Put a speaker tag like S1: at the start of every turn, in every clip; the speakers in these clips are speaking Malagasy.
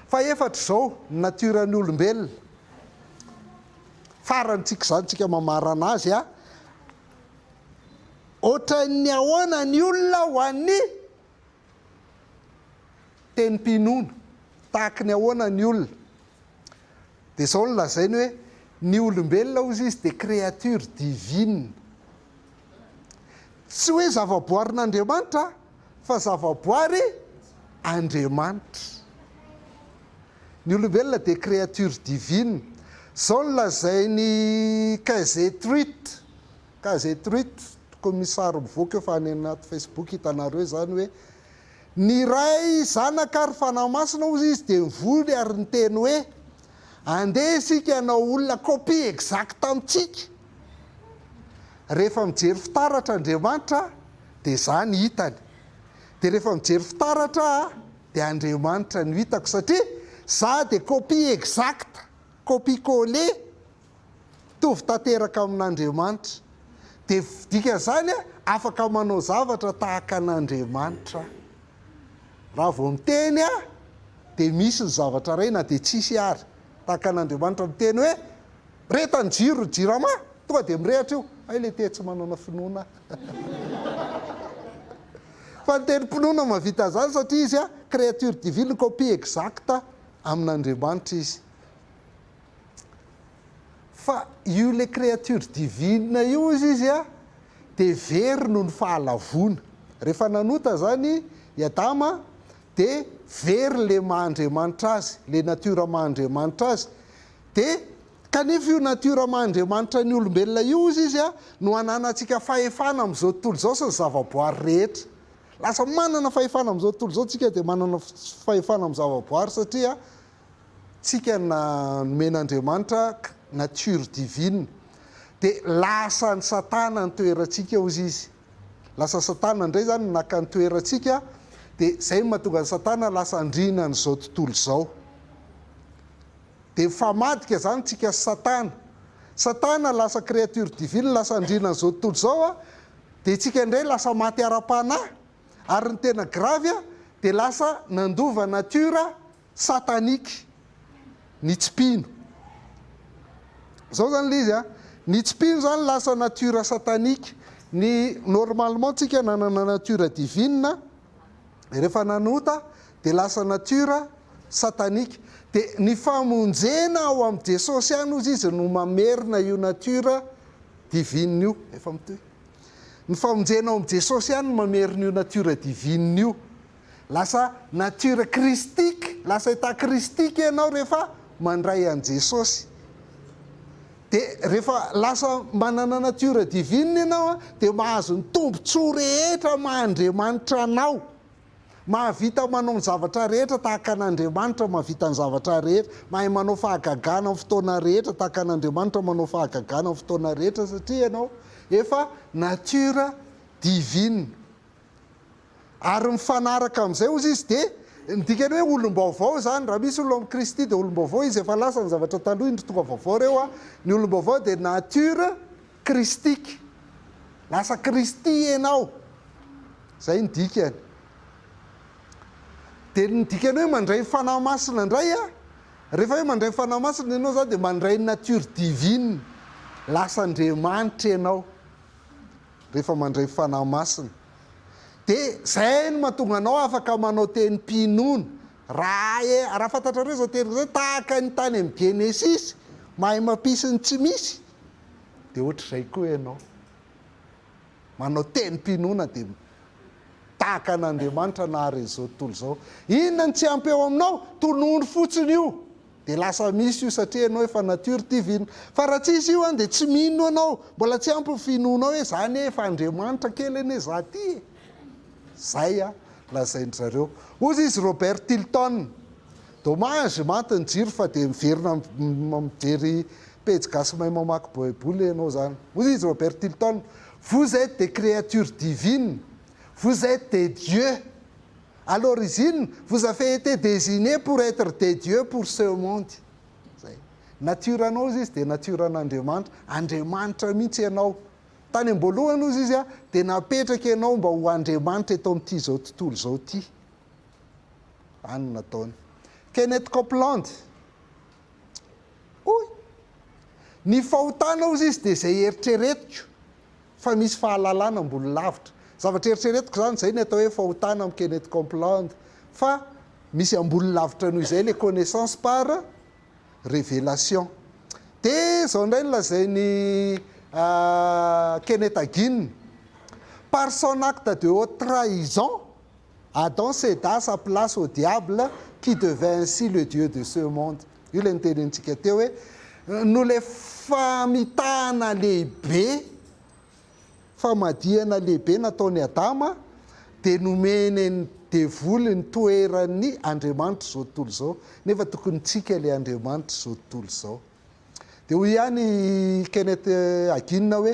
S1: Fahefatra izao, ny natiora ny olombelona. Farany tsika izany tsika mamarana azy a. Ohatran'ny ahoana ny olona ho an'ny Tenim-pinoana, tahaky ny ahoana ny olona? Dia izao no lazainy hoe, ny olombelona hozy izy dia créature divine. Tsy hoe zavaboarin'Andriamanitra fa zavaboary Andriamanitra. Ny olombelona dia créature divine. Izao no lazain'i Kaiser Truit. Case truite tokony misary mivoaka eo fa any anaty Facebook hitanareo izany hoe ny ray zanaka ary fanahy masina hozy izy dia nivory ary niteny hoe andeha isika hanao olona copie exacte amintsika rehefa mijery fitaratra Andriamanitra dia izaho ny hitany dia rehefa mijery fitaratra aho dia Andriamanitra no hitako satria izaho dia copie exacte copie coller Mitovy tanteraka amin'Andriamanitra. Dia dikan'izany aho afaka manao zavatra tahaka an'Andriamanitra aho. Raha vao miteny aho dia misy ny zavatra iray na dia tsisy ary. Tahaka an'Andriamanitra miteny hoe, Mirehitra ny jiro ny jirama, tonga dia mirehitra io. Hay le te tsy manana finoana aho. Fa ny tenim-pinoana mahavita an'izany satria izy, créature divine, copie exacte amin'Andriamanitra izy. Fa io le créature divine io ozy izy a de very noho ny fahalavoana. Rehefa nanota zany i Adama de very le maha Andriamanitra azy, le nature maha Andriamanitra azy. De kanefa io nature maha Andriamanitra ny olombelona io ozy izy a no ananantsika fahefana am'zao tontolo izao sy ny zavaboary rehetra. Lasa manana fahefana am'zao tontolo izao tsika de manana fahefana am zavaboary satria tsika na nomen'Andriamanitra nature divine dia lasa an'i satana ny toerantsika ozy izy lasa satana indray izany no naka ny toerantsika dia izay no mahatonga an'i satana lasa andriana an'izao tontolo izao dia mifamadika izany tsika sy satana satana lasa créature divine lasa andriana an'izao tontolo izao a dia tsika indray lasa maty ara-panahy ary ny tena gravy a dia lasa nandova nature satanique ny tsy mpino. Zao zany le izy a, ny tsy mpino zany lasa nature satanique, ny normalement tsika nanana nature divine, refa nanota de lasa nature satanique, de ny famonjena ao am Jesosy any ozy izy no mamerina io nature divine io, efa mitohy, ny famonjena ao am Jesosy any no mamerina io nature divine io. Lasa nature christique, lasa état christique ianao rehefa mandray an'i Jesosy. Dia rehefa lasa manana nature divine ianao dia mahazo ny tombontsoa rehetra maha Andriamanitra anao. Mahavita manao ny zavatra rehetra tahaka an'Andriamanitra mahavita ny zavatra rehetra. Mahay manao fahagagana amin'ny fotoana rehetra tahaka an'Andriamanitra manao fahagagana amin'ny fotoana rehetra satria ianao efa nature divine. Ary mifanaraka amin'izay ozy izy dia ny dikany hoe olom-baovao izany. Raha misy olona amin'i Kristy dia olom-baovao izy, efa lasa ny zavatra taloha, indro tonga vaovao ireo. Ny olom-baovao dia nature kristika, lasa Kristy ianao, izay ny dikany. Dia ny dikany hoe mandray ny Fanahy Masina indray an, rehefa hoe mandray ny Fanahy Masina ianao izany dia mandray ny nature divine, lasa Andriamanitra ianao. rehefa mandray Fanahy Masina. Dia izay no mahatonga anao afaka manao teny mpinono. Raha raha fantatrareo izao teny izao, tahaka ny tany amin'ny Genesisy, mahay mampisy ny tsy misy, dia ohatr'izay koa ianao. Manao teny mpinoana dia tahaka an'Andriamanitra nahare izao tontolo izao. Inona no tsy ampy eo aminao? Tonony fotsiny io. Dia lasa misy io satria ianao efa nature divine. Fa raha tsy izy io an dia tsy mino ianao. Mbola tsy ampy ny finoanao hoe za anie efa Andriamanitra kely anie za ty e. Zay an lazain-dry zareo. Hoy izy Robert Tilton, Dommage, maty ny jiro fa dia miverina mijery pejy gasy mahay mamaky baiboly ianao zany. Hoy izy Robert Tilton, Vous êtes des créatures divines. Vous êtes des dieux. à l'origine vous avez été désigné pour être des dieux pour ce monde zay nature anao ozy izy dia nature an'Andriamanitra Andriamanitra mihitsy ianao tany amboalohany ozy izy ah dia napetraka ianao mba ho Andriamanitra eto amin'ity zao tontolo izao ity zany no nataony Kenneth Copeland hoy ny fahotana ozy izy dia izay eritreretiko fa misy fahalalana ambony lavitra. Zavatra eritreretiko izany izay ny atao hoe fahotana amin'ny Kenneth Copeland fa misy ambony lavitra noho izay ilay connaissance par révélation. Dia izao indray no lazain'i Kenneth Hagin, Par son acte de haute trahison, Adam céda sa place au diable qui devint ainsi le Dieu de ce monde. Io ilay notenenintsika teo hoe noho ilay famitahana lehibe, famadihana lehibe nataon'i Adama dia nomeny an'ny devoly ny toeran'ny Andriamanitr'izao tontolo izao, nefa tokony tsika ilay Andriamanitr'izao tontolo izao. Dia hoy ihany i Kenneth Hagin hoe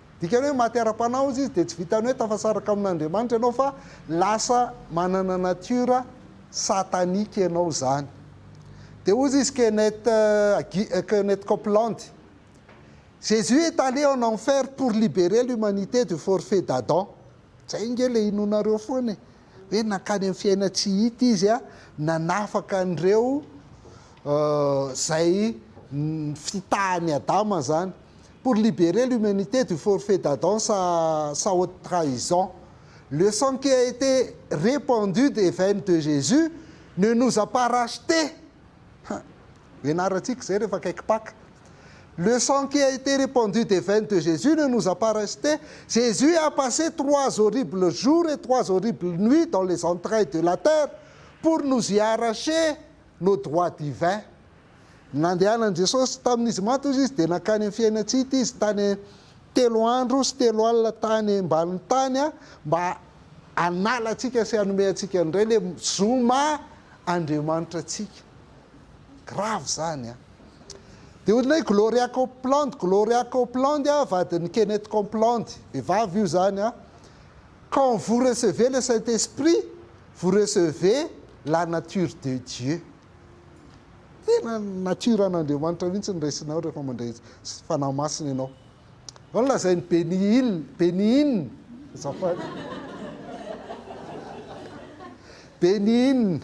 S1: Dikany hoe maty ara-panahy ozy izy dia tsy vitany hoe tafasaraka amin'Andriamanitra ianao fa lasa manana nature satanique ianao zany. Dia ozy izy Kenneth Kenneth Copeland, Jesus est allé en enfer pour liberer l'humanité du forfait d'Adam. Zay nge le inoanareo foana e. hoe nankany amin'ny fiainan-tsy hita izy a, nanafaka an'ireo izay fitahan'i Adama izany. Pour liberer l'humanité du forfait d'Adam sa sa haute trahison. Le sang qui a été répandu des veines de Jésus ne nous a pas rachetés. Hum, ianarantsika izay rehefa akaiky Paka. Le sang qui a été repandu des veines de Jesus ne nous a pas reste, Jesus a passe trois horribles jours et trois horribles nuits dans les entrailles de la terre pour nous y arracher nos droits divins. Nandehanan'i Jesosy, tamin'izy maty hozy izy dia nankany amin'ny fiainantsy ity izy tany telo andro sy telo alina tany ambanin'ny tany mba hanala antsika sy hanome antsika indray le zo maha Andriamanitra antsika. Grave zany a! Dia hoy ilay Gloria Copeland, Gloria Copeland a, vadin'i Kenneth Copeland, vehivavy io zany a, quand vous recevez le saint esprit, vous recevez la nature de Dieu. Tena nature an'Andriamanitra mihitsy no raisinao rehefa mandray Fanahy Masina ianao. Izao no lazain'i Benny Hill, Benny Hinn, azafady. Benny Hinn,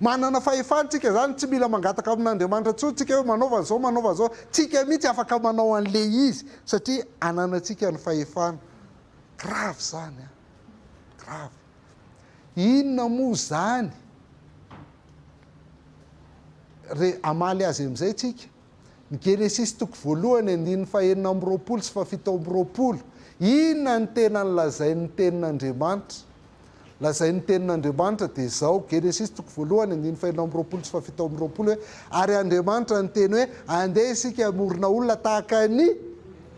S1: Manana fahefana tsika zany, tsy mila mangataka amin'Andriamanitra intsony tsika hoe manaova an'izao, manaova an'izao. Tsika mihitsy afaka manao an'le izy satria ananantsika ny fahefana. Grave zany an! Grave. Inona moa zany re hamaly azy amizay tsika? Ny Genesisy toko voalohany andininy fahenina amby roapolo sy fahafito amby roapolo, inona no tena nolazain'ny Tenin'Andriamanitra? Lazain'ny Tenin'Andriamanitra dia izao, Genesisy toko voalohany andininy fahenina amby roapolo sy fahafito amby roapolo hoe, Ary Andriamanitra niteny hoe, Andeha isika hamorona olona tahaka ny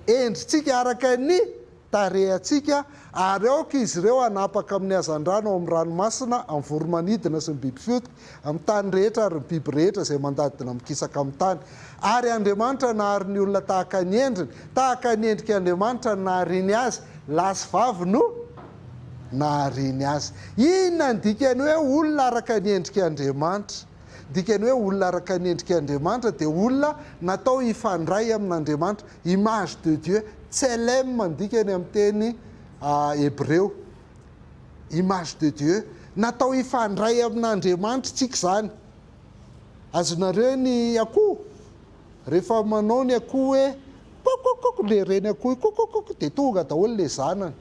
S1: endritsika, araka ny. tarehantsika ary aoka izy ireo hanapaka amin'ny hazandrano ao amin'ny ranomasina, amin'ny voromanidina sy ny biby fioty, amin'ny tany rehetra ary ny biby rehetra izay mandadina mikisaka amin'ny tany. Ary Andriamanitra nahary ny olona tahaka ny endriny, tahaka ny endrik' Andriamanitra no nahariany azy, lahy sy vavy no nahariany azy. Inona ny dikan'ny hoe olona araka ny endrik' Andriamanitra? Ny dikan'ny hoe olona araka ny endrik' Andriamanitra dia olona natao hifandray amin' Andriamanitra. Image de Dieu, Tselem no dikany amin'ny teny hebreo. Image de Dieu. Natao hifandray amin'Andriamanitritsika izany. Azonareo ny akoho? Rehefa manao ny akoho hoe kok-kok-kok ilay reny akoho io, kok-kok-kok dia tonga daholo ilay zanany.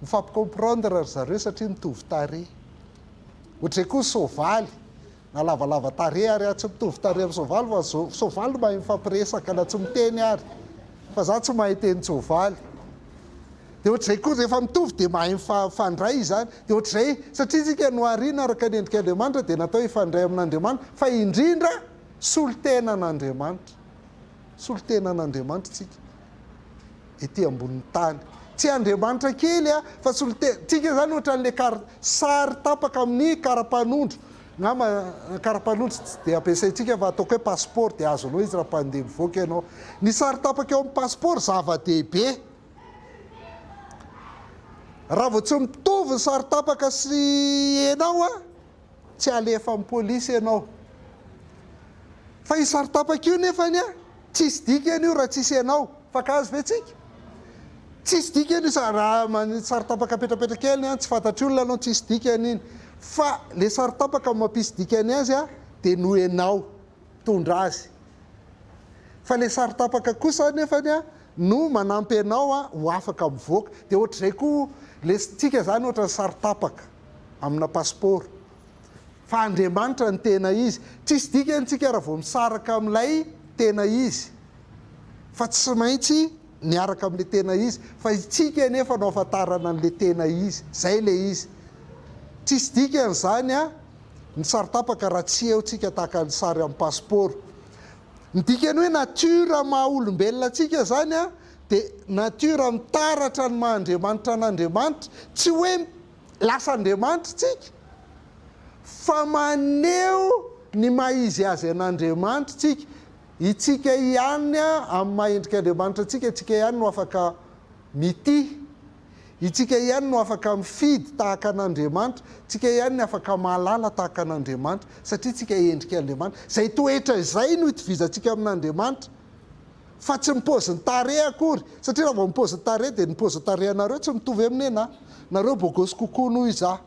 S1: Mifampi-comprendre ry zareo satria mitovy tarehy. Ohatr'izay koa ny soavaly. Na lavalava tarehy ary a! Tsy mitovy tarehy amin'ny soavaly fa ny soavaly no mahay mifampiresaka na tsy miteny ary fa za tsy mahay teny soavaly dia ohatr'izay koa rehefa mitovy dia mahay mifandray izany dia ohatr'izay satria isika noharina araka ny endrik'Andriamanitra dia natao hifandray amin'Andriamanitra fa indrindra solontenan'Andriamanitra solontenan'Andriamanitra isika ety ambonin'ny tany. Tsy andriamanitra kely a, fa solon-tena. Tsika izany ohatran'ilay kar- sary tapaka amin'ny karapanondro. Angamba ny karapanondro tsy dia ampiasaintsika fa ataoko hoe passeport dia azonao izy raha mpandeha mivoaka ianao. Ny sary tapaka eo amin'ny passeport zava-dehibe. Raha vao tsy mitovy ny sary tapaka sy ianao a, tsy alefa am police ianao fa io sary tapaka io nefany a tsisy dikany io raha tsisy ianao fankahazo ve tsika tsisy dikany io sa raha manisy sary tapaka petrapetra kely an tsy fantatry olona anao tsisy dikany iny fa le sary tapaka no mampisy dikany azy a de noho ianao mitondra azy fa le sary tapaka kosa nefany a no manampy anao a ho afaka mivoaka de ohatr'izay koa le tsika zany ohatrany sary tapaka amina pasipaoro fa Andriamanitra ny tena izy. Tsisy dikany tsika raha vao misaraka amin'ilay tena izy fa tsy maintsy miaraka amin'ilay tena izy fa itsika anefa no ahafantarana an'ilay tena izy. Zay ilay izy. Tsisy dikany zany an ny sary tapaka raha tsy eo tsika tahaka ny sary amin'ny pasipaoro. Ny dikany hoe nature maha olombelona antsika zany an dia nature mitaratra ny maha Andriamanitra an'Andriamanitra tsy hoe Lasa Andriamanitra tsika, fa maneho ny maha izy azy an'Andriamanitra tsika. Itsika ihany amin'ny maha endrika Andriamanitra antsika, itsika ihany no afaka mitia, itsika ihany no afaka mifidy tahaka an'Andriamanitra, itsika ihany ny afaka mahalala tahaka an'Andriamanitra, satria itsika endrika Andriamanitra. Izay toetra izay no itovizantsika amin'Andriamanitra. fa tsy ny pôzin'ny tarehy akory satria raha vao ny pôzin'ny tarehy dia ny pôzin'ny tarehinareo tsy mitovy amin'ny anahy, nareo bôgôsy kokoa noho izaho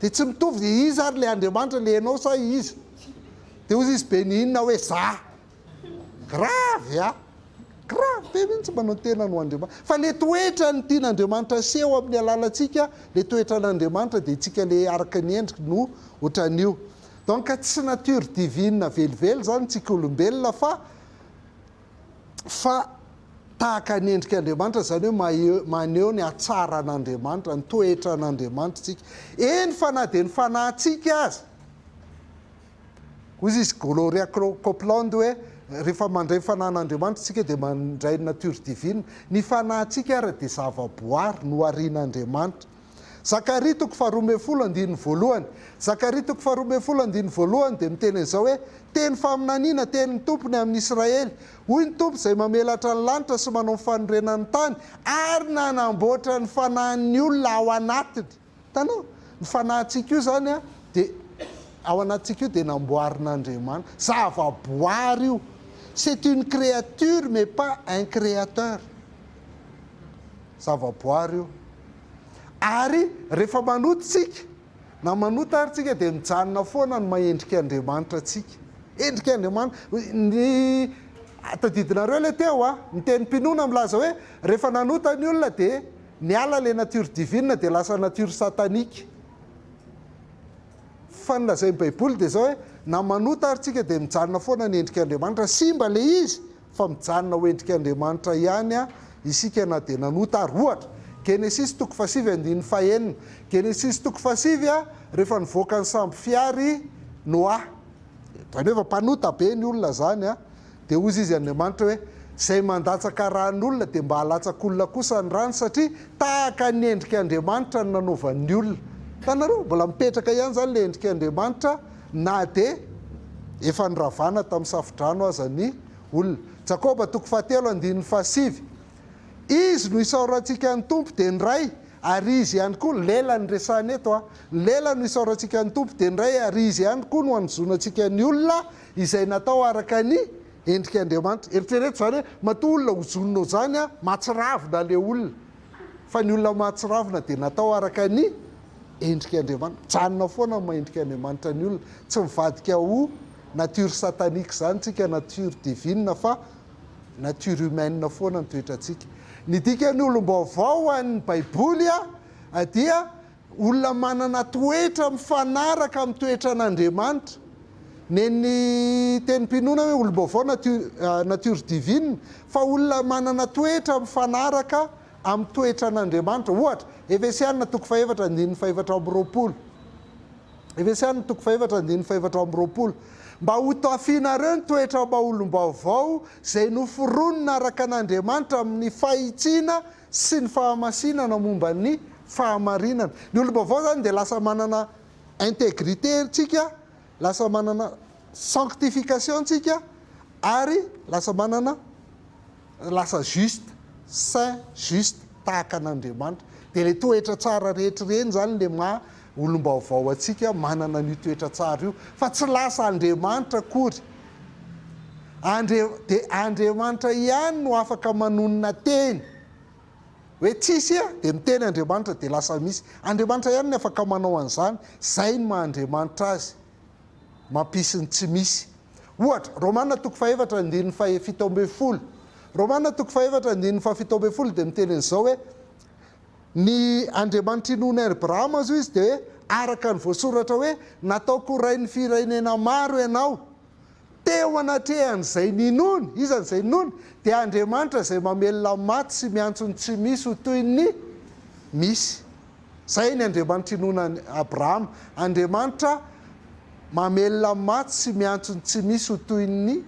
S1: dia tsy mitovy, dia iza ary ilay Andriamanitra, ilay ianao sa iza? dia hozy izy benihina hoe za, grave a! grave be mihitsy manao ny tenany ho Andriamanitra, fa ilay toetrany tian'Andriamanitra aseho amin'ny alalantsika, ilay toetran'Andriamanitra dia isika ilay araka ny endriny no ohatran'io, Donc tsy nature divine velively izany tsika olombelona fa fa tahaka ny endrika Andriamanitra izany hoe maheho maneho ny hatsaran Andriamanitra, ny toetran Andriamanitra tsika. Eny fa na dia ny fanahintsika aza. Hoy izy Gloria Copeland hoe rehefa mandray ny fanahin Andriamanitra tsika dia mandray ny nature divine. Ny fanahintsika ary dia zava boary noharian Andriamanitra. Zakaria toko faharoa ambin'ny folo andininy voalohany, Zakaria toko faharoa ambin'ny folo andininy voalohany dia miteny an'izao hoe, Teny faminaniana, tenin'ny Tompo ny amin'i Israely, Hoy ny Tompo izay mamelatra ny lanitra sy manao ny fanorenany ny tany, ary nanamboatra ny fanahin'ny olona ao anatiny. Hitanao? Ny fanahintsika io izany dia, ao anatintsika io dia namboarin'Andriamanitra. Zavaboary io. C'est une créature mais pas un créateur. zavaboary io ary rehefa manota isika na manota ary tsika dia mijanona foana ny mahendrika Andriamanitra antsika endrika Andriamanitra ny tadidinareo le teo a ny tenim-pinoana milaza hoe rehefa nanota ny olona dia niala le nature divine dia lasa nature satanique fa ny lazain'ny baiboly dia zao hoe na manota ary tsika dia mijanona foana ny endrika Andriamanitra simba le izy fa mijanona ho endrik'Andriamanitra ihany isika na dia nanota ary. Ohatra, Genesisy toko fahasivy andininy fahenina, Genesisy toko fahasivy a rehefa nivoaka ny sambo fihary i Noa, zany hoe efa mpanota be ny olona zany a, dia hozy izy Andriamanitra hoe, zay mandatsaka ran'olona dia mba alatsak'olona kosa ny rany satria tahaka ny endrik'Andriamanitra no nanaovan'ny olona. Hitanareo? Mbola mipetraka ihany zany le endrik'Andriamanitra Na dia efa noravana tamin'ny safodrano aza ny olona. Jakoba toko fahatelo andininy fahasivy, Izy no isaorantsika ny Tompo dia ny Ray, ary Izy ihany koa, ny lela no resahina eto a, ny lela no isaorantsika ny Tompo dia ny Ray, ary Izy ihany koa no anozonantsika ny olona izay natao araka ny endrik' Andriamanitra. Eritrereto izany hoe matoa olona hozonina izany a, mahatsiravina ilay olona, fa ny olona mahatsiravina dia natao araka ny endrika Andriamanitra, mijanona foana amin'ny maha endrika Andriamanitra ny olona, tsy mivadika ho nature satanique izany tsika, nature divine fa nature humaine foana ny toetrantsika. Ny dikan'ny olom-baovao ho an'ny baiboly dia olona manana toetra mifanaraka amin'ny toetran'Andriamanitra. Nen'ny tenim-pinoana hoe olom-baovao nature divine fa olona manana toetra mifanaraka amin'ny toetran' Andriamanitra. Ohatra, Efesiana toko fahefatra andininy fahefatra amby roapolo, Efesiana toko fahefatra andininy fahefatra amby roapolo, Mba hotafianareo ny toetram-baolom-baovao izay noforonina araka an' Andriamanitra amin'ny fahitsiana sy ny fahamasinana momba ny fahamarinana. Ny olom-baovao izany dia lasa manana integrite ntsika, lasa manana sanctification ntsika ary lasa manana. lasa juste, saint, juste, tahaka an'Andriamanitra. Dia ilay toetra tsara rehetra ireny izany ilay maha olom-baovao antsika manana an'io toetra tsara io, fa tsy lasa Andriamanitra akory. Andre, dia Andriamanitra ihany no afaka manonona teny. Hoe tsisy a, dia miteny Andriamanitra dia lasa misy. Andriamanitra ihany ny afaka manao an'izany, izay ny maha Andriamanitra azy. mampisy ny tsy misy. Ohatra, Romana toko fahefatra andininy fahefito ambin'ny folo. Romana toko fahefatra andininy fahafito ambin'ny folo dia miteny an'izao hoe, Ny Andriamanitry ny nony Abrahama zo izy dia hoe, araka ny voasoratra hoe, Nataoko rain'ny firenena maro ianao. Teo anatrehan'izay ninony, iza no izay ninony? Dia Andriamanitra izay mamelona ny maty sy miantso ny tsy misy ho toy ny misy. Izay ny Andriamanitra inoanan'i Abrahama, Andriamanitra mamelona amin'ny maty sy miantso ny tsy misy ho toy ny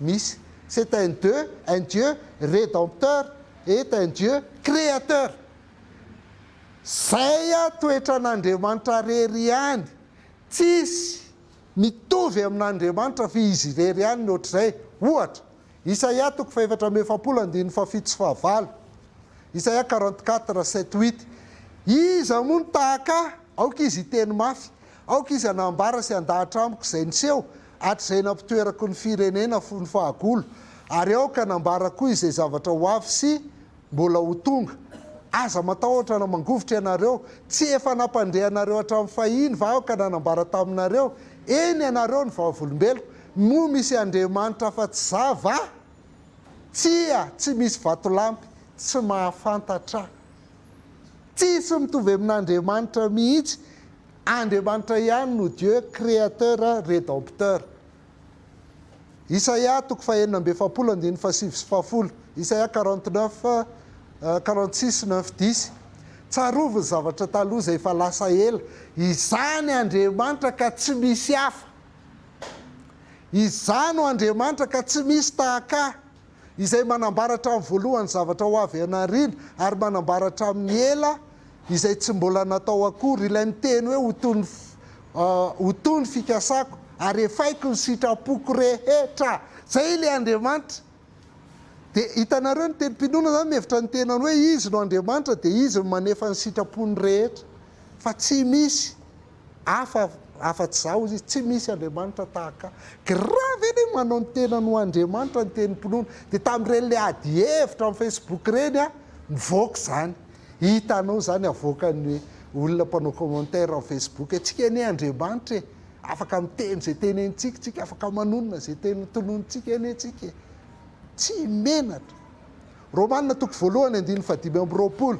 S1: misy. C'est un Dieu, un Dieu Rédempteur et un Dieu Créateur. Izay toetran'Andriamanitra rery ihany, tsisy mitovy amin'Andriamanitra f'izy irery ihany ny ohatr'izay, ohatra. Isaia toko fahefatra amby efapolo andininy fahafito sy fahavalo, Isaia quarante quatre sept huit, Iza moa no tahaka ahy? Aoka izy hiteny mafy, aoka izy hanambara sy handahatra amiko izay niseho, hatrizay nampitoerako ny firenena fony fahagola, ary aoka hanambara koa izay zavatra ho avy sy Mbola ho tonga. Aza matahotra na mangovitra ianareo. Tsy efa nampandre anareo hatramin'ny fahiny va aho ka nanambara taminareo, eny, ianareo ny vavolombeloko? Moa misy andriamanitra afa-tsy za va? Tsia, tsy misy vatolampy, tsy mahafantatra. Tsia, tsy mitovy amin'andriamanitra mihitsy. Andriamanitra ihany no Dieu, Créateur, Rédempteur. Isaia toko fahenina amby efapolo andininy fahasivy sy fahafolo, Isaia quarante neuf, quarante six neuf dix, Tsarovy ny zavatra taloha izay efa lasa ela, izany Andriamanitra ka tsy misy hafa, izany o Andriamanitra ka tsy misy tahaka ahy. izay manambara hatramin'ny voalohany zavatra ho avy any aoriana ary manambara hatramin'ny ela izay tsy mbola natao akory. Ilay miteny hoe ho toy ny ho toy ny fikasako ary efaiko ny sitrapoko rehetra. Izay ilay Andriamanitra. Dia hitanareo ny tenim-pinoana izany mihevitra ny tenany hoe izy no Andriamanitra dia izy no manefa ny sitrapony rehetra fa tsy misy Hafa afa tsy za ozy izy tsy misy Andriamanitra tahaka ahy. Grave anie manao ny tenany ho Andriamanitra ny tenim-pinoana. Dia tamin'ireny le ady hevitra amin'ny Facebook ireny a, nivoaka izany. Hitanao izany avoakan'ny olona mpanao commentaire amin'ny Facebook hoe tsika anie Andriamanitra e, afaka miteny izay tenenintsika tsika, afaka manonona izay teny tononintsika anie tsika e. Tsy menatra. Romana toko voalohany andininy fahadimy amby roapolo.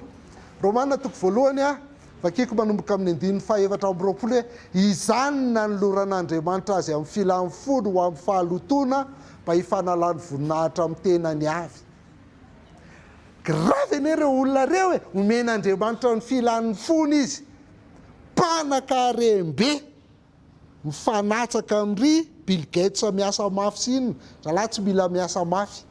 S1: Romana toko voalohany a, Vakiko manomboka amin'ny andininy fahefatra amby roapolo hoe, Izany no nanoloran'Andriamanitra azy amin'ny filany fony ho amin'ny fahalotoana mba hifanalany voninahitra amin'ny tenany avy. Grave anie ireo olona ireo e! Omen'Andriamanitra ny filany fony izy. Mpanankarem-be! mifanatsaka am ry bill gates miasa mafy sy inona, zalahy tsy mila miasa mafy,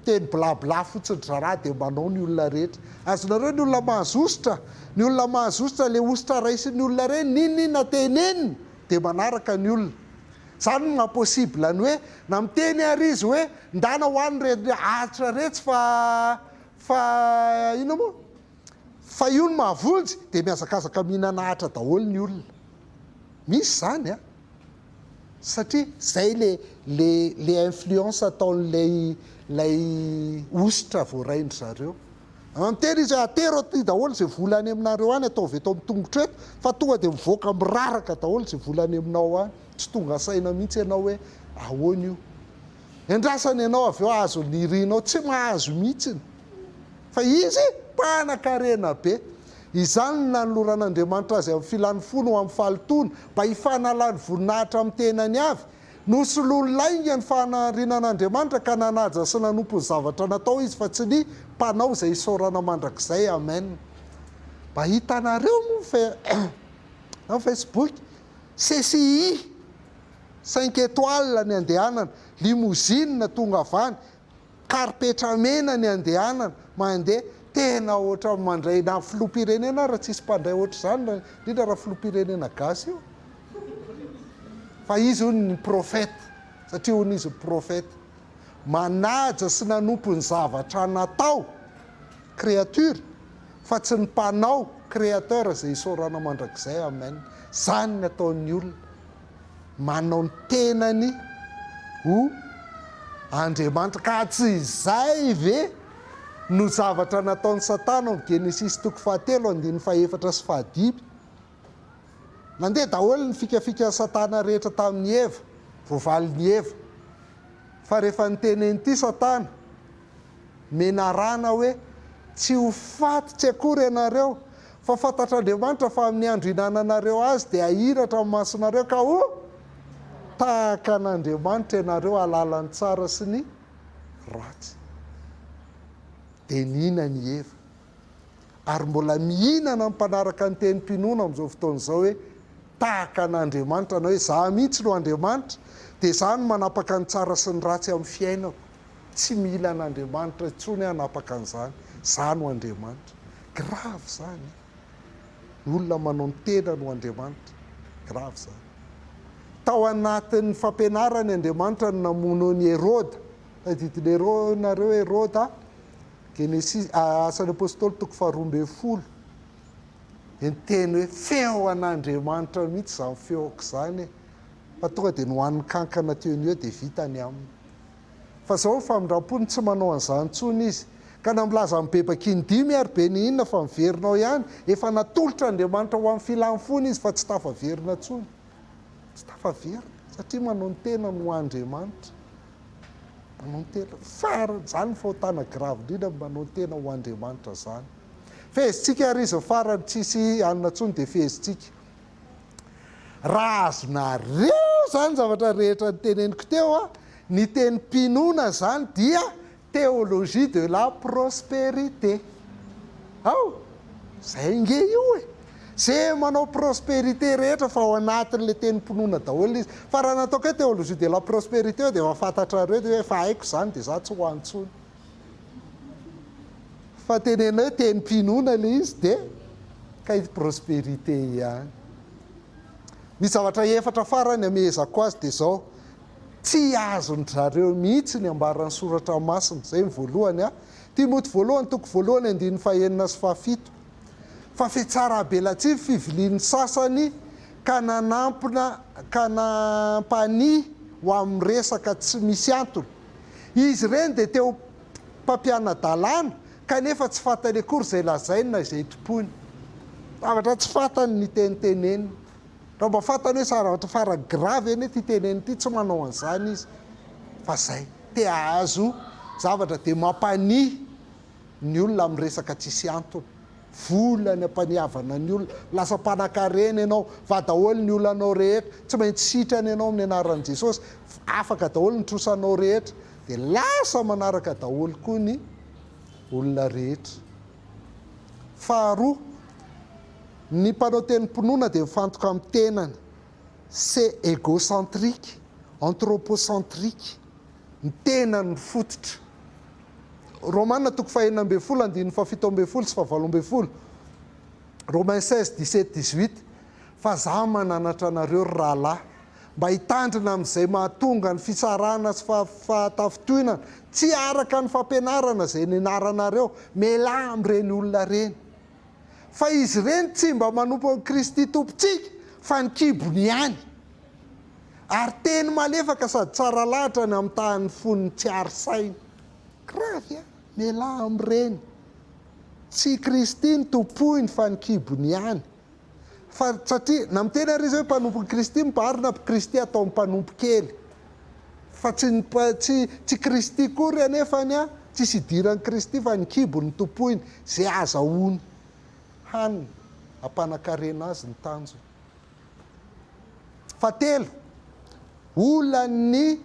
S1: teny bla bla fotsiny ry zalahy dia manao ny olona rehetra, azonareo ny olona mahazosotra, ny olona mahazosotra le hosotra raisin'ny olona reny n'inona inona teneniny dia manaraka ny olona, zany no maha possible ny hoe na miteny ary izy hoe ndana ho any reny aritra retsy fa fa inona moa? Fa io ny mahavonjy dia mihazakazaka mihinana Atra daholo ny olona. Misy izany an! Satria izay le le le influence ataon'ilay ilay hosotra voarain-dry zareo. An tena izy hoe atero aty daholo izay vola any aminareo any ataovy eto amin'ny tongotro eto fa tonga dia mivoaka miraraka daholo izay vola any aminao any. Tsy tonga saina mihitsy ianao hoe ahoana io. Endrasany ianao avy eo hahazo ny irinao, tsy mahazo mihitsiny. Fa izy mpanan-karena be. Izany no nanoloran'Andriamanitra azy amin'ny filany fony ho amin'ny fahalotoana, mba hifanalany voninahitra amin'ny tenany avy. Nosoloany lainga ny fahamarinan'Andriamanitra ka nanaja sy nanompo ny zavatra natao izy fa tsy ny mpanao izay isaorana mandrakizay. Amen. Mba hitanareo moa ny fe, na ny facebook, CCI. Cinq étoiles ny andehanana, limousine tonga avy any, karipetra mena ny andehanana, mandeha, tena ohatran'ny mandray na filoham-pirenena ary tsisy mpandray ohatr'izany indrindra raha filoham-pirenena gasy io fa izy hono ny prophète satria hono izy prophète manaja sy nanompo ny zavatra natao créature fa tsy ny mpanao créateur izay isaorana mandrakizay amen izany ny ataon'ny olona manao ny tenany ho Andriamanitra. Ka tsy izay ve no zavatra nataon'i Satana ao amin'ny Genesisy toko fahatelo andininy fahefatra sy fahadimy? Nandeha daholo ny fikafikan'i Satana rehetra tamin'i Eva, voavalin'i Eva. Fa rehefa niteny an'ity Satana, menarana hoe, Tsy ho faty tsy akory ianareo, fa fantatr'Andriamanitra fa amin'ny andro ihinananareo azy dia hahiratra ny masonareo ka ho tahaka an'Andriamanitra ianareo hahalala ny tsara sy ny ratsy. Dia nihinana i Eva. Ary mbola mihinana ny mpanaraka ny tenim-pinoana amin'izao fotoana izao hoe, Tahaka an'Andriamanitra na hoe, Izaho mihitsy no Andriamanitra, dia izaho no manapaka ny tsara sy ny ratsy amin'ny fiainako. Tsy mila an'Andriamanitra intsony hanapaka an'izany. Za no Andriamanitra. Grave izany an! Ny olona manao ny tenany ho Andriamanitra. Grave izany. Tao anatin'ny fampianarany Andriamanitra no namono an'i Heroda. Tadidin'i nareo Heroda an! Genesis, Asan'ny Apostoly toko faharoa ambin'ny folo. Dia ny teny hoe feo an'Andriamanitra mihitsy izany feoko izany e! Fa tonga dia nohanin'ny kankana teo ny eo dia vita ny aminy. Fa zao ny famindrampony tsy manao an'izany intsony izy. Ka na milaza amin'ny bebaka in-dimy ary be ny inona fa miverina ao ihany, efa natolotra Andriamanitra ho amin'ny filany fony izy fa tsy tafaverina intsony. Tsy tafaverina satria manao ny tenany ho Andriamanitra. Manao ny tena farany, izany ny fahotana gravy indrindra ny manao ny tena ho Andriamanitra izany. Fehezintsika ary izy ny farany, tsisy hanina intsony dia fehezintsika. Raha azonareo izany zavatra rehetra niteneniko teo, ny teny mpinona izany dia théologie de la prospérité. Ao? Izay nge io e! Ze manao prospérité rehetra fa ao anatin'ilay teny mpinona daholo izy. Fa raha nataoko hoe théologie de la prospérité eo dia efa fantatrareo hoe efa haiko izany dia za tsy ho any intsony. Fa teneno hoe tenim-pinoana ilay izy dia kay prosperité ihany. Ny zavatra efatra farany amehezako azy dia izao, tsy azon-dry zareo mihitsy ny ambaran'ny soratra masina, izay ny voalohany an, Timoty voalohany toko voalohany andininy fahenina sy fahafito, fa fitsarabelatsihy ny fivilian'ny sasany ka nanampina ka nampania ho amin'ny resaka tsy misy antony. Izy ireny dia te ho mpampiana-dalàna kanefa tsy fantany akory izay lazainy na izay tompoiny. Zavatra tsy fantany ny teniteneniny. Raha mba fantany hoe zavatra farany grave anie ity teneniny ity, tsy manao an'izany izy fa izay. Te hahazo zavatra dia mampania ny olona amin'ny resaka tsisy antony. vola ny ampaniavana ny olona, lasa mpanakarena ianao fa daholo ny olanao rehetra, tsy maintsy sitrana ianao amin'ny anaran'i Jesosy, afaka daholo ny trosanao rehetra, dia lasa manaraka daholo koa ny olona rehetra. Faharoa, ny mpanao tenim-pinoana dia mifantoka amin'ny tenany, c'est égocentrique, anthropocentrique. ny tena no fototra. Romana toko fahenina ambin'ny folo andininy fahafito ambin'ny folo sy fahavalo ambin'ny folo, Romains seize, dix sept, dix huit, Fa za mananatra anareo, ry rahalahy, mba hitandrina amin'izay mahatonga ny fitsarana sy fahatafintohinana tsy araka ny fampianarana izay nianaranareo, mialà amin'ireny olona ireny. Fa izy ireny tsy mba manompo an'i Kristy Tompontsika, fa ny kibony ihany. Ary teny malefaka sady tsara lahatra ny amitahan'ny fon'ny tsy hary saina. Gravy a! Mialà amin'ireny. Tsy i Kristy no tompoiny fa ny kibony ihany. Fa satria, na miteny ary izy hoe mpanompon'i Kristy mibarina aby Kristy ataony mpanompo kely. Fa tsy ny, tsy, tsy Kristy akory anefany an, tsisy idiran'i Kristy fa ny kibony no tompoiny. Izay azahoany hanina, hampanan-karena azy ny tanjony. Fahatelo, olan'ny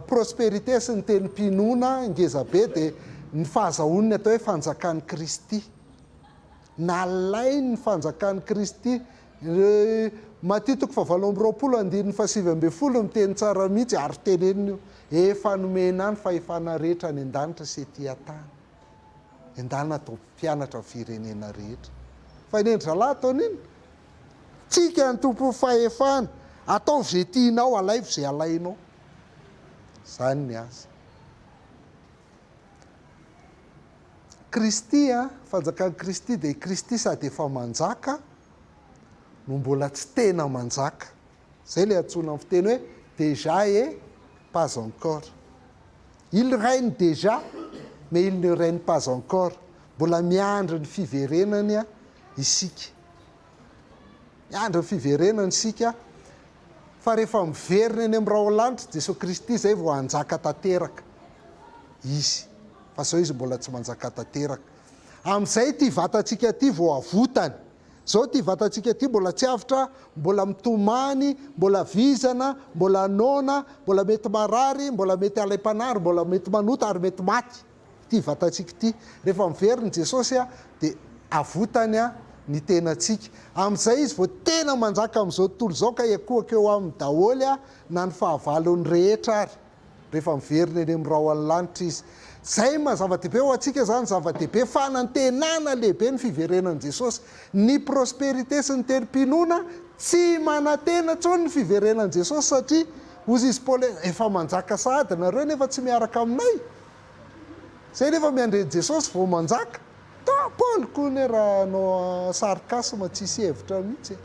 S1: prosperite sy ny tenim-pinoana ngezabe dia ny fahazahoan'ny atao hoe fanjakan'i Kristy. Nalain'ny fanjakan'i Kristy, Matthieu toko fahavalo amby roapolo andininy fahasivy ambin'ny folo miteny tsara mihitsy, ary tenenina io, efa nomena ahy ny fahefana rehetra any an-danitra sy ety an-tany. Endana atao mpianatra ny firenena rehetra. Fa i Nendrizalahy ataony inona? Tsika ny tompon'ny fahefana, ataovy izay tianao, alaivo izay alainao. Izany ny azy. Kristy, fanjakan'i Kristy dia i Kristy sady efa manjaka no mbola tsy tena manjaka. Zay le antsoina am fiteny hoe dejà et pas encore. Il règne dejà mais il ne règne pas encore, mbola miandry ny fiverenany isika. Miandry ny fiverenany isika fa rehefa miverina eny am raolanitra Jesoa Kristy zay vao hanjaka tanteraka Izy fa zao Izy mbola tsy manjaka tanteraka. Amzay ty vatantsika ty vao avotany. Zao ity vatantsika ity mbola tsy avotra, mbola mitomany, mbola vizana, mbola noana, mbola mety marary, mbola mety halaim-panary, mbola mety manota ary mety maty ity vatantsika ity. Rehefa miverina i Jesosy dia avotany ny tenantsika. Amin'izay Izy vao tena manjaka amin'izao tontolo izao ka hiankohoka eo aminy daholo na ny fahavalony rehetra ary. rehefa miverina eny amin'ny rahon'ny lanitra izy. Izay maha zava-dehibe ho antsika izany, zava-dehibe fanantenana lehibe ny fiverenan'i Jesosy. Ny prosperites sy ny tenim-pinoana tsy manantena intsony ny fiverenan'i Jesosy satria hozy izy Paoly, efa manjaka sahady nareo nefa tsy miaraka aminay. Izay nefa miandry an'i Jesosy vao manjaka. Paoly koa anie raha hanao sarcasme tsisy hevitra mihitsy e.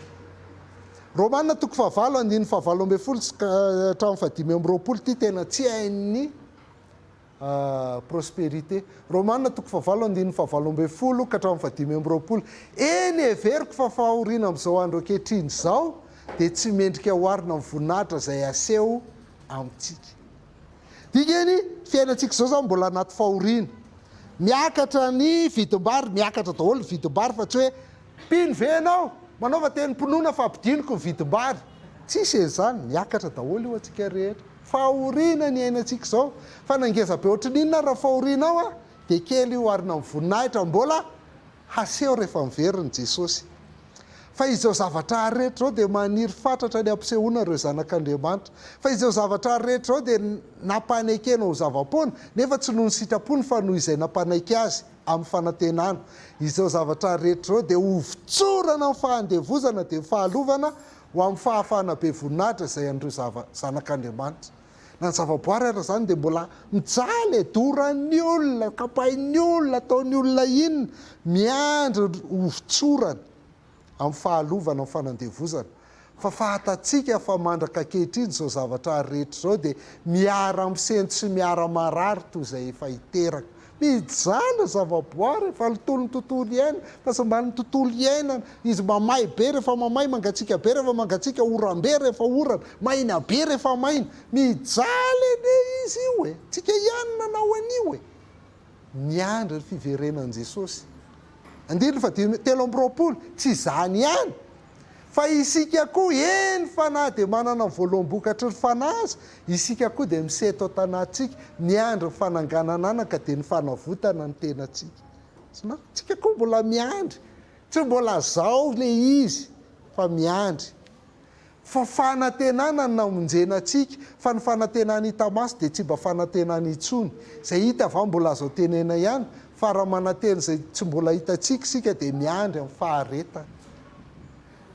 S1: Romana toko fahavalo andininy fahavalo ambin'ny folo sy ka hatramin'ny fahadimy amby roapolo ity tena tsy hain'ny Prospérité. Romana toko fahavalo andininy fahavalo ambin'ny folo ka hatramin'ny fahadimy amby roapolo. Eny, heveriko fa fahoriana amin'izao andro ankehitriny izao dia tsy mendrika oharina amin'ny voninahitra izay aseho amintsika. Dikan'ny fiainantsika izao izany mbola anaty fahoriana. Miakatra ny vidim-bary, miakatra daholo ny vidim-bary fa tsy hoe Mpino ve ianao? Manaova tenim-pinoana fa ampidiniko ny vidim-bary. Tsisy e izany, miakatra daholo io antsika rehetra. Fahoriana ny iainantsika izao. Fa na ngeza be ohatry ny inona ary raha fahoriana ao an, dia kely io oharina amin'ny voninahitra mbola haseho rehefa miverina i Jesosy. Fa izao zavatra ary rehetra izao dia maniry fatratra ny hampisehoana ireo zanak'Andriamanitra. Fa izao zavatra ary rehetra izao dia nampanekena ho zava-poana, nefa tsy noho ny sitrapony fa noho izay nampanaiky azy. amin'ny fanantenana. Izao zavatra rehetra izao dia hovotsorana amin'ny fahandevozana dia ny fahalovana ho amin'ny fahafahana be voninahitra izay an'ireo zava, zanak'Andriamanitra. Na ny zavaboary ara izany dia mbola mijaly e, doran'ny olona, kapain'ny olona, ataon'ny olona inona, miandry ny hovotsorany. amin'ny fahalovana ny fanandevozana, fa fahatantsika fa mandraka ankehitriny izao zavatra ary rehetra izao dia miara misento sy miara marary toy izay efa hiteraka. Mijanona zavaboary fa nitolo ny tontolo iainana, fa tsy mba ny tontolo iainana, izy mamay be rehefa mamay, mangatsiaka be rehefa mangatsiaka, oram-be rehefa orana, maina be rehefa maina. Mijaly anie izy io e! Tsika ihany nanao an'io e! Miandry ny fiverenan'i Jesosy. Andininy fahadimy telo amby roapolo, Tsy izany ihany fa isika koa, eny fa na dia manana ny voaloham-bokatry ny Fanahy aza, isika koa dia miseto an-tanantsika, miandry ny fanangananana ka dia ny fanavotana ny tenantsika. Isika koa mbola miandry. Tsy mbola zao ilay izy fa miandry. fa fanantenana ny namonjena antsika, fa ny fanantenany hita maso dia tsy mba fanantenany intsony, izay hita va mbola azo antenaina ihany, fa raha manantena izay tsy mbola hitantsika isika dia miandry amin'ny faharetany.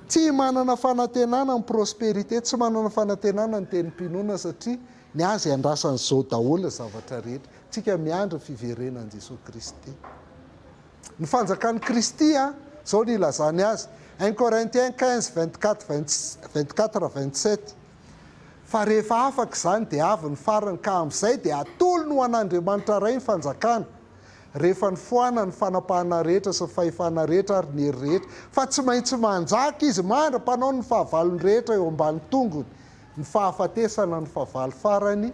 S1: Tsy manana fanantenana ny prospérité, tsy manana fanantenana ny tenim-pinoana satria ny azy iandrasan'izao daholo ny zavatra rehetra, tsika miandry ny fiverenan'i Jesoa Kristy. Ny fanjakan'i Kristy an! Izao no ilazany azy, un Corinthiens quinze, vingt quatre, vingt quatre, vingt sept, Fa rehefa afaka izany dia avy ny farany, ka amin'izay dia hatolony ho an'Andriamanitra Ray ny fanjakana, rehefa nifohana ny fanapahana rehetra sy ny fahefana rehetra ary ny hery rehetra, fa tsy maintsy manjaka Izy mandra-panaony ny fahavalony rehetra eo ambany tongony. Ny fahafatesana no fahavalo farany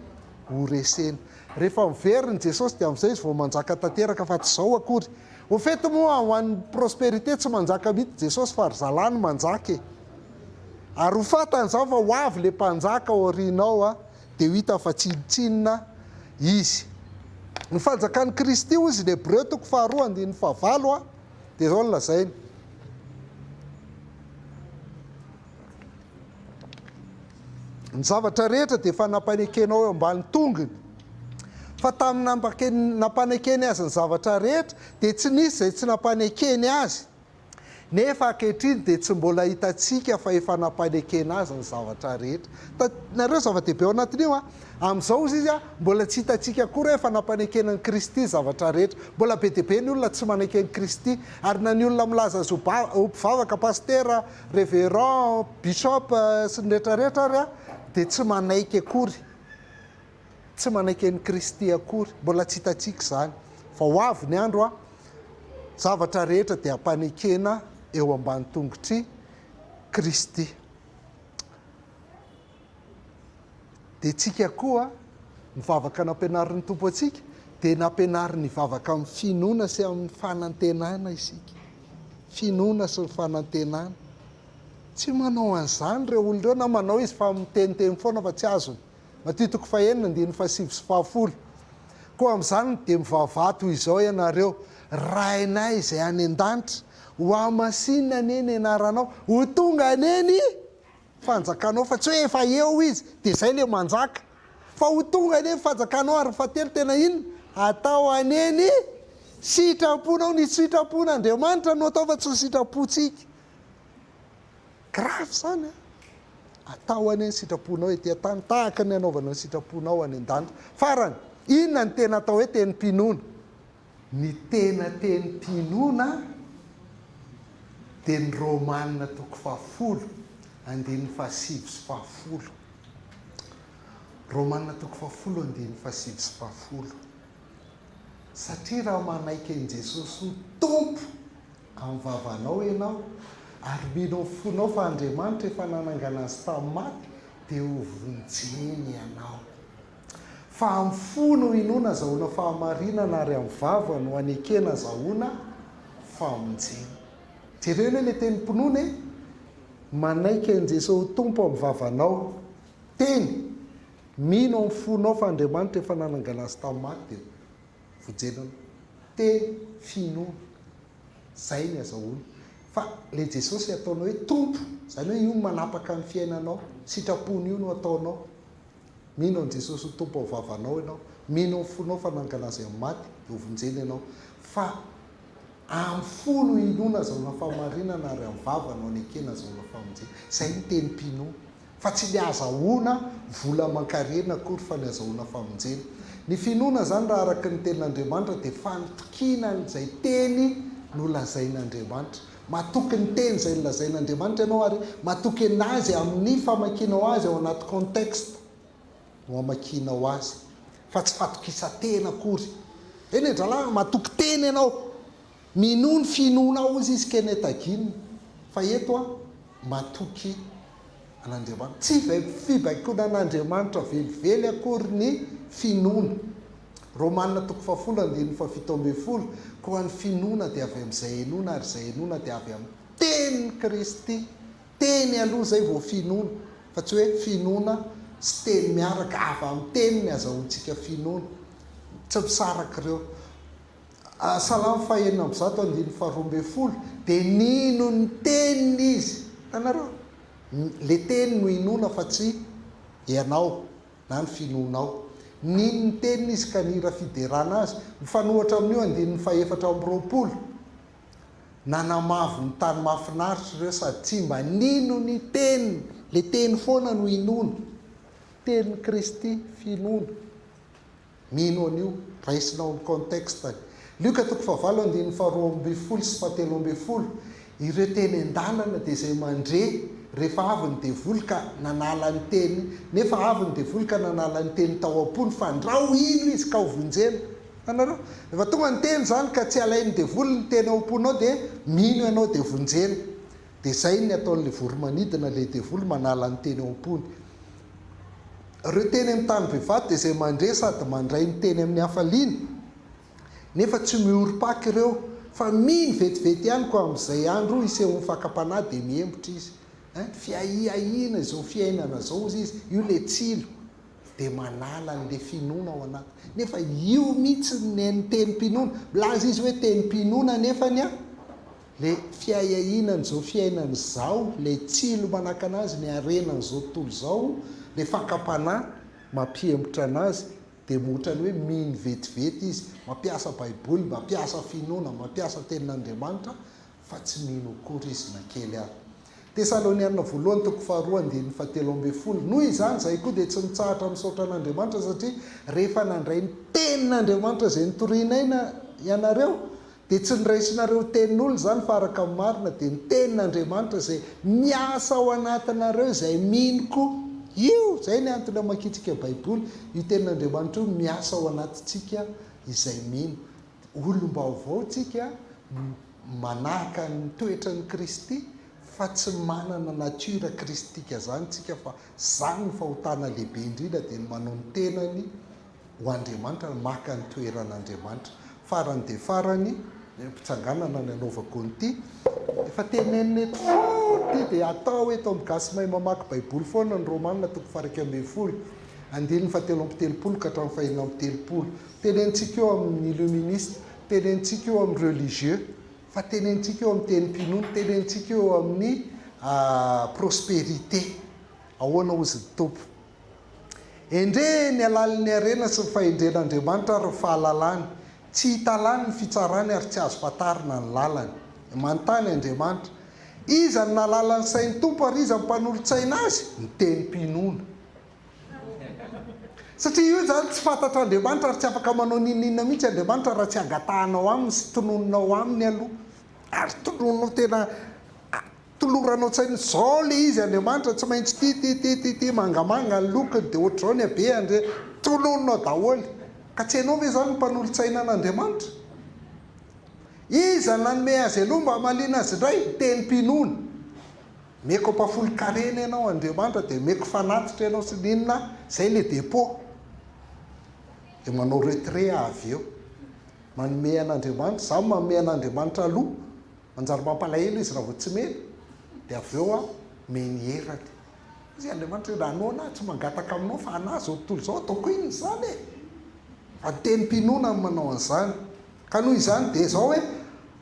S1: ho resena. Rehefa miverina i Jesosy dia amin'izay Izy vao manjaka tanteraka fa tsy izao akory. Au fait moa ho an'ny prosperité tsy manjaka mihitsy Jesosy fa ry zalahy no manjaka e. Ary ho fantany izany fa ho avy ilay mpanjaka ao aoriana ao dia ho hitany fa tsinontsinona Izy. Ny fanjakan'i Kristy hoy izy ny Hebreo toko faharoa andininy fahavalo dia izao no lazainy. Ny zavatra rehetra dia efa nampanekenao eo ambany tongony. Fa tamin'ny nampanekeny azy ny zavatra rehetra dia tsy nisy izay tsy nampanekeny azy. Nefa ankehitriny dia tsy mbola hitantsika fa efa nampanekena azy ny zavatra rehetra. Hitanareo zava-dehibe ao anatin'io an? Amin'izao hozy izy an, mbola tsy hitantsika akory hoe efa nampanekena an'i Kristy ny zavatra rehetra. Mbola be dia be ny olona tsy manaiky an'i Kristy. Ary na ny olona milaza azy ho mpivavaka, pasitera, Reverend, Bishop sy ny rehetra rehetra ary a, dia tsy manaiky akory, tsy manaiky an'i Kristy akory, mbola tsy hitantsika izany, fa ho avy ny andro a, zavatra rehetra dia hampanekena eo ambany tongotr'i Kristy. Dia tsika koa mivavaka nampianarin'ny Tompo antsika dia nampianariny hivavaka amin'ny finoana sy amin'ny fanantenana isika. Finoana sy ny fanantenana. Tsy manao an'izany ireo olona ireo na manao izy fa miteniteny foana fa tsy azony. Matio toko fahenina andininy fahasivy sy fahafolo. Koa amin'izany dia mivavaha toy izao ianareo, Rainay izay any an-danitra, hohamasinina anie ny anaranao, ho tonga anie ny. fanjakanao fa tsy hoe efa eo izy dia zay le manjaka fa ho tonga anie ny fanjakanao ary ny fahatelo tena inona? atao anie ny sitramponao ny sitrampon'ny Andriamanitra no atao fa tsy ny sitrampontsika grave zany an! atao anie ny sitramponao ety an-tany tahaka ny anaovanao ny sitramponao any an-danitra farany inona no tena atao hoe tenim-pinoana? Ny tena teny Pinona dia ny Romana toko fahafolo andininy fahasivy sy fahafolo. Romana toko fahafolo andininy fahasivy sy fahafolo. Satria raha manaiky an'i Jesosy ho Tompo amin'ny vavanao ianao ary mino amin'ny fonao fa Andriamanitra efa nanangana Azy tamin'ny maty dia ho vonjeny ianao. Fa amin'ny fo no inoana azahoana fahamarinana ary amin'ny vava no anekena azahoana famonjena. Jereo anie ilay tenim-pinoana e! Manaiky an'i Jesoa ho Tompo amin'ny vavanao. Teny! Mino amin'ny fonao fa Andriamanitra efa nanangana Azy tamin'ny maty dia vojenanao. Teny, finoana. Izay ny azahoana. Fa ilay Jesosy ataonao hoe Tompo, izany hoe io no manapaka ny fiainanao, sitrapony io no ataonao. Mino an'i Jesosy ho Tompo ao vavanao ianao, mino amin'ny fonao fa nangalà Azy amin'ny maty, novonjena ianao, fa amin'ny fo no inoana azahoana fahamarinana ary amin'ny vava no anekena azahoana famonjena. Izay ny teny pino. Fa tsy ny azahoana vola aman-karena akory fa ny azahoana famonjena. Ny finoana izany raha araka ny Tenin'Andriamanitra dia fanitokiana an'izay Teny nolazain'Andriamanitra. Matoky ny teny izay nolazain'Andriamanitra ianao ary matoky an'Azy amin'ny famakianao Azy ao anaty contexte no amakianao Azy fa tsy fatokisan-tena akory. Eny e dralahy, matoky teny ianao, minoa ny finoanao hozy izy Kenneth Hagin fa eto aho matoky an'Andriamanitra. Tsy fibaikoana an'Andriamanitra velively akory ny finoana. Romana toko fahafolo andininy fahafito ambin'ny folo, Koa ny finoana dia avy amin'izay henoina, ary izay henoina dia avy amin'ny tenin'i Kristy. Teny aloha izay vao finoana, fa tsy hoe finoana sy teny miaraka, avy amin'ny teny ny azahoantsika finoana. Tsy misaraka ireo. Salamo fahenina amby zato andininy faharoa ambin'ny folo, Dia nino ny teniny izy. Hitanareo? Ilay teny no inoana fa tsy ianao. na ny finoanao. Nino ny teniny izy ka nihira fiderana azy. Mifanohitra amin'io andininy fahefatra amby roapolo, Nanamavo ny tany mahafinaritra ireo sady tsy mba nino ny teniny. Ilay teny foana no inoana. Tenin'i Kristy finoana. Mino an'io, raisina ao amin'ny contexte-ny. Lioka toko fahavalo andininy faharoa ambin'ny folo sy fahatelo ambin'ny folo, Ireo teny an-dalana dia izay mandre rehefa avy ny devoly ka nanala ny teny, nefa avy ny devoly ka nanala ny teny tao am-pony fa ndra ho ilo izy ka ho vonjena. Hitanareo? Rehefa tonga ny teny izany ka tsy alain'ny devoly ny teny ao am-ponao dia mino ianao dia vonjena. Dia izay ny ataon'ilay voromanidina, ilay devoly manala ny teny ao am-pony. Ireo teny amin'ny tany bevata dia izay mandre sady mandray ny teny amin'ny hafaliana, nefa tsy mihorim-paka ireo, fa mino vetivety ihany koa amin'izay andro isehoan'ny fakam-panahy dia mihembotra izy. Ein, fiahiahiana izao fiainana izao, hozy izy, io ilay tsilo, dia manala an'ilay finoana ao anatiny. Nefa io mihitsy ny nen'ny tenim-pinoana. Milaza izy hoe tenim-pinoana anefany an, Le fiahiahiana an'izao fiainana izao, le tsilo manakana azy ny harena an'izao tontolo izao, le fakam-panahy mampihemotra anazy, dia ohatran'ny hoe mino vetivety izy, mampiasa baiboly, mampiasa finoana, mampiasa tenin'Andriamanitra, fa tsy mino akory izy na kely ary. Tesaloniana voalohany toko faharoa andininy fahatelo ambin'ny folo, noho izany izahay koa dia tsy mitsahatra misaotra an'Andriamanitra satria rehefa nandray ny tenin'Andriamanitra izay notorianay na ianareo, Dia tsy noraisinareo tenin'olona izany fa araka ny marina dia ny tenin'Andriamanitra izay miasa ao anatinareo izay mino koa. Io! Izay ny antony hamakiantsika Baiboly. Io tenin'Andriamanitra io miasa ao anatintsika izay mino. Olom-baovao tsika no manahaka ny toetran'i Kristy fa tsy manana nature kristika izany tsika fa izany ny fahotana lehibe indrindra dia ny manao ny tenany ho Andriamanitra ary maka ny toeran'Andriamanitra. Farany dia farany, am-pitsanganana ny anaovako an'ity, efa tenenina eto fort ity dia atao eto amin'ny gasy mahay mamaky baiboly foana ny Romana toko faha-iraika ambin'ny folo, andininy fahatelo amby telopolo ka hatramin'ny faheno amby telopolo. Tenenintsika io amin'ny illuministe, tenenintsika io amin'ny religieux, fa tenenintsika io amin'ny tenim-pinoana, tenenintsika io amin'ny prosperité. Ahoana hozy ny Tompo? Endrey ny halalin'ny harena sy ny fahendren'Andriamanitra ary ny fahalalany! Tsy hita lany ny fitsarany ary tsy azo fantarina ny lalany. Manontany Andriamanitra, Iza no nahalala ny sain'ny Tompo ary iza no mpanolo-tsaina Azy? Ny tenim-pinoana. Satria io izany tsy fantatr'Andriamanitra ary tsy afaka manao n'inon'inona mihitsy Andriamanitra raha tsy angatahanao Aminy sy tonononao Aminy aloha ary tonononao tena Tolorano an-tsaina izao le izy Andriamanitra tsy maintsy ity ity ity ity ity mangamanga ny lokony dia ohatr'izao ny habe Andria toloninao daholo ka tsy hainao ve izany ny mpanolotsaina an'Andriamanitra Iza nanome azy aloha mba hamaliana azy indray tenim-pinoana Omeko ampahafolon-karena ianao Andriamanitra dia omeko fanatitra ianao sy ny inona izay le depot dia manao retrait avy eo manome an'Andriamanitra izaho manome an'Andriamanitra aloha Manjary mampalahelo izy raha vao tsy mena, dia avy eo miha ny herany. Izay Andriamanitra hoe, raha noana aho tsy mangataka aminao fa anà izao tontolo izao, ataoko inona izany e? Fa ny tenim-pinoana no manao an'izany. Ka noho izany dia izao hoe,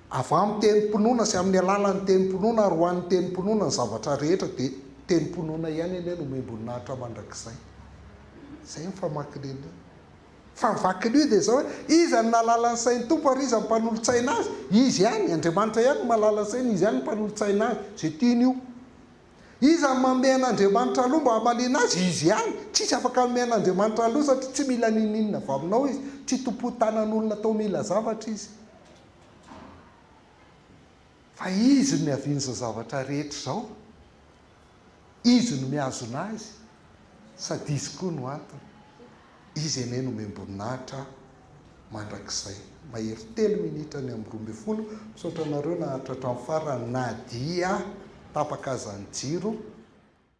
S1: avy amin'ny tenim-pinoana sy amin'ny alalan'ny tenim-pinoana ary ho an'ny tenim-pinoana ny zavatra rehetra, dia tenim-pinoana ihany anie no omem-boninahitra mandrakizay. Izay ny famakin'iny. Fa ny vakilio dia izao hoe, iza no nahalala ny sain'ny Tompo ary iza no mpanolotsaina Azy? Izy ihany, Andriamanitra ihany no mahalala ny sainy, Izy ihany no mpanolotsaina Azy, izay tiany ho. Iza no manome an'Andriamanitra aloha mba hamaliana Azy? Izy ihany, tsisy afaka hanome an'Andriamanitra aloha satria tsy mila n'inon'inona avy aminao Izy, tsy tompon-tanan'olona atao mila zavatra Izy. Fa Izy no niavian'izao zavatra rehetra izao. Izy no mihazona azy sady Izy koa no antony. Izy anie nomem-boninahitra mandrakizay. Mahery telo minitra ny amin'ny roa ambin'ny folo. Misaotra anareo naharitra hatramin'ny farany na dia tapaka aza ny jiro.